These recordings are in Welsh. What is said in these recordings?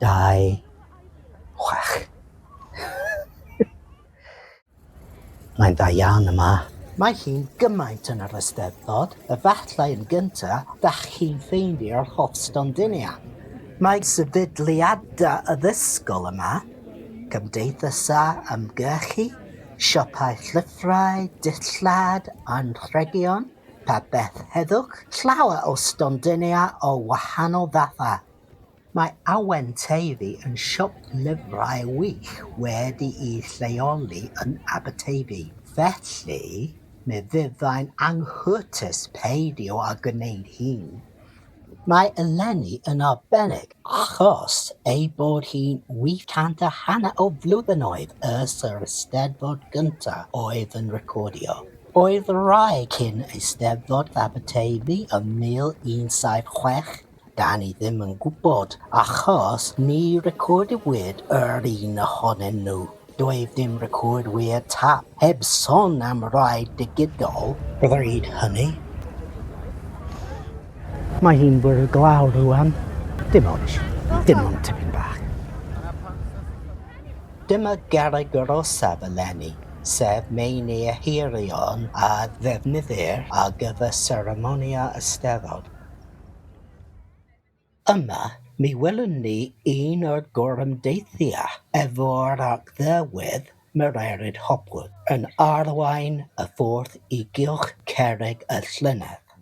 26. Mae'n dda iawn yma. Mae hi'n gymaint yn yr Eisteddfod, efallai yn gyntaf, dach chi'n ffeindio'r holl stondinau. Mae sefydliadau addysgol yma, cymdeithasau ymgyrchu, siopau llyfrau, dillad, anrhegion, pa beth heddwch, llawer o stondinau o wahanol fathau. Mae Awen Teifi yn siop lyfrau wych wedi'i lleoli yn Aberteifi, felly mi fyddai'n anghytûs peidio â gwneud hyn. Mae eleni yn arbennig achos ei bod hi'n 80 a hanner o flwyddynnoedd ers yr Eisteddfod gyntaf oedd yn recordio. Oedd Rai cyn Eisteddfod Aberteifi yn 1760, 'Dan ni ddim yn gwybod achos ni recordiwyd yr un ohonyn nhw. Doedd dim recordwyr tap, heb son am rai digidol, bryd hynny. Mae hi'n bore glaw rŵan. Dim ots. Dim ond tipyn bach. Dyma garreg yr orsaf eleni, sef meini y hirion a ddefnyddir ar gyfer seremonïau Eisteddfod. Yma, mi welwn ni un o'r gorymdeithiau efo'r Arglwydd Mererid Hopwood yn arwain y ffordd i gylch cerrig y llynedd.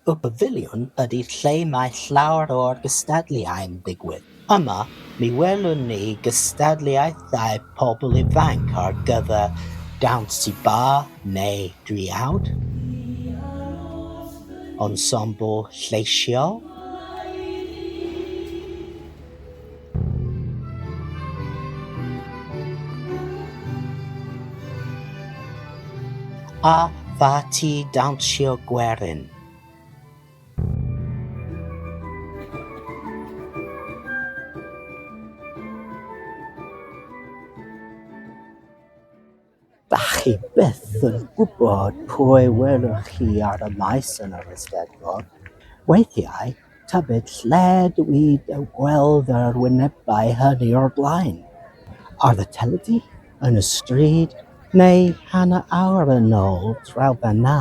Y Pafiliwn ydi lle mae llawer o'r gystadleuau'n digwydd. Yma, mi welwn ni gystadleuaethau pobl ifanc ar gyfer dawns tŷ ba neu driawd, ensemble lleisiol, a pharti dawnsio gwerin. Dach chi byth yn gwybod pwy welwch chi ar y maes yn yr Eisteddfod. Weithiau, tybed lle dw i eu gweld yr wynebau hynny o'r blaen? Ar y teledu, yn y stryd, neu hanner awr yn ôl, draw fan'na.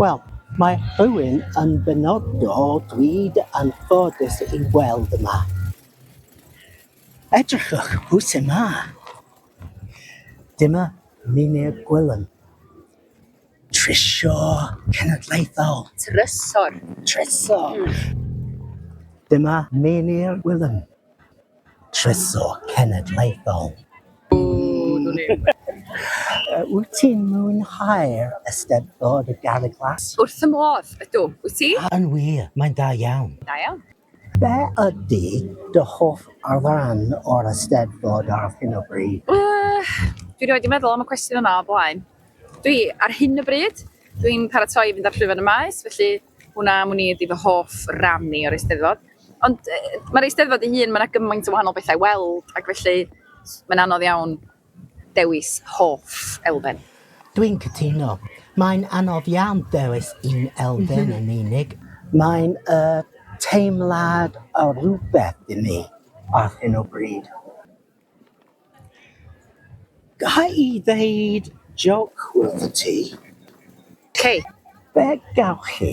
Wel, mae rhywun yn benodol dwi'n anffodus ei weld yma. Edrychwch pwy sy'n ma. Dyma Mynir Gwilym, Trysio Cenedlaethol. Trysor. Trysor. Dyma Mynir Gwilym. Trysor Cenedlaethol. Wyt ti'n mwynhau'r Eisteddfod y Garreg Las? Wrth fy modd, ydw. Wyt ti? Yn wir, mae'n da iawn. Da iawn. Be ydy dy hoff ran o'r Eisteddfod ar hyn o bryd? Dwi rioed wedi meddwl am y cwestiwn yma o blaen. Dwi, ar hyn o bryd, dwi'n paratoi i fynd ar Llwyfan y Maes, felly Hwnna am wn i ydi fy hoff ran i o'r Eisteddfod. Ond mae'r Eisteddfod ei hun, mae yna gymaint o wahanol bethau i weld ac felly mae'n anodd iawn dewis hoff elfen. Dwi'n cytuno. Mae'n anodd iawn dewis un elfen yn unig. Mae'n teimlad o rywbeth i mi ar hyn o bryd. Ga i ddeud jôc wrth ti? Cei. Be gewch chi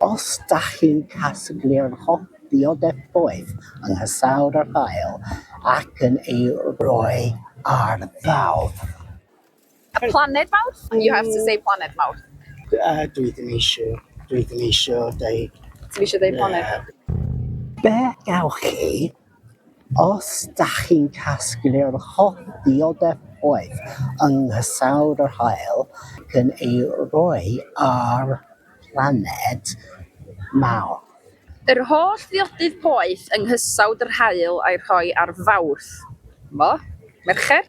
os dach chi'n casglu'r holl ddiodefoedd yng nghysawd yr haul ac yn ei roi ar ddawf? A planed mawr? Mm. You have to say planed mawr. A dwi ddim eisiau, dwi ddim eisiau deud... Ti'n eisiau deud planed? Be gawch chi os da chi'n casglu'r holl ddiodef oedd yng nghysawd yr haul ac yn ei roi ar planed mawr? Yr holl ddiodydd poeth yng nghysawd yr haul a'i rhoi ar Fawrth. Mo? Mercher?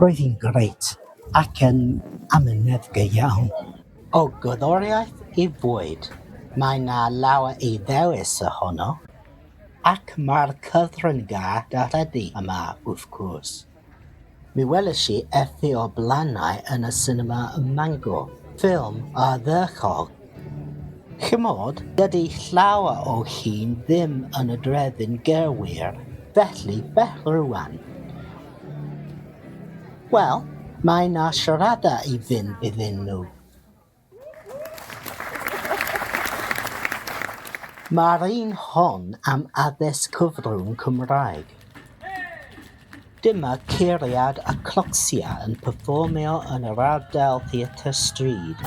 Roedd hi'n grêt ac yn amynedd go iawn. O gerddoriaeth i fwyd, mae 'na lawer i ddewis ohono, ac mae'r cyfryngau teledu yma wrth gwrs. Mi welish i Efi o'r Blannau yn y sinema ym Mangor, ffilm ardderchog. Chimod, dydy llawer o hyn ddim yn y drefyn gyrwyr, felly bell rŵan. Wel, mae 'na siorada i fynd iddyn nhw. Mae'r un hon am addysg cyfrwng Cymraeg. Dyma curiad y Clocksia yn perfformio yn yr ardal Theatr Stryd.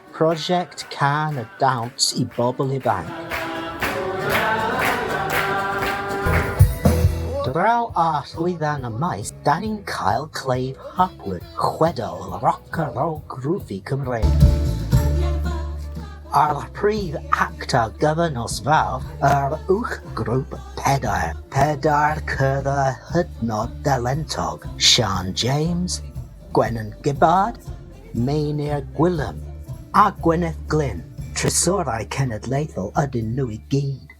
Prosiect Cân a Dawns i Bobl Ifanc. Draw â llwyfan y maes, da ni'n cael Clive Hopwood, chwedl roc a rôl groovy Cymreig. A'r prif actor gyfer nos fawr, yr uwch grŵp pedair, pedair cyrfa hydnod dalentog, Siân James, Gwenan Gibbard, Meinir Gwilym a Gwyneth Glyn, Trysorau Cenedlaethol ydyn nhw i gyd.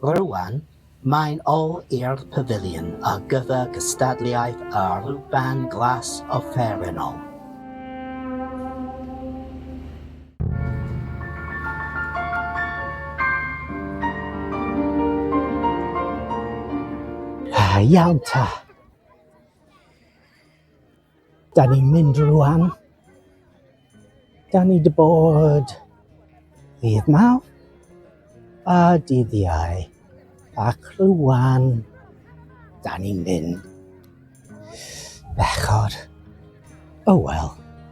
Rŵan, mae'n ôl i'r Pafiliwn ar gyfer cystadleuaeth y Rhuban Glas offerynnol. Iawn ta. Da ni'n mynd rwan. Da ni dy bod ddydd maw a dydd iau. Ac rwan, da ni'n mynd. Bechod. O oh, wel.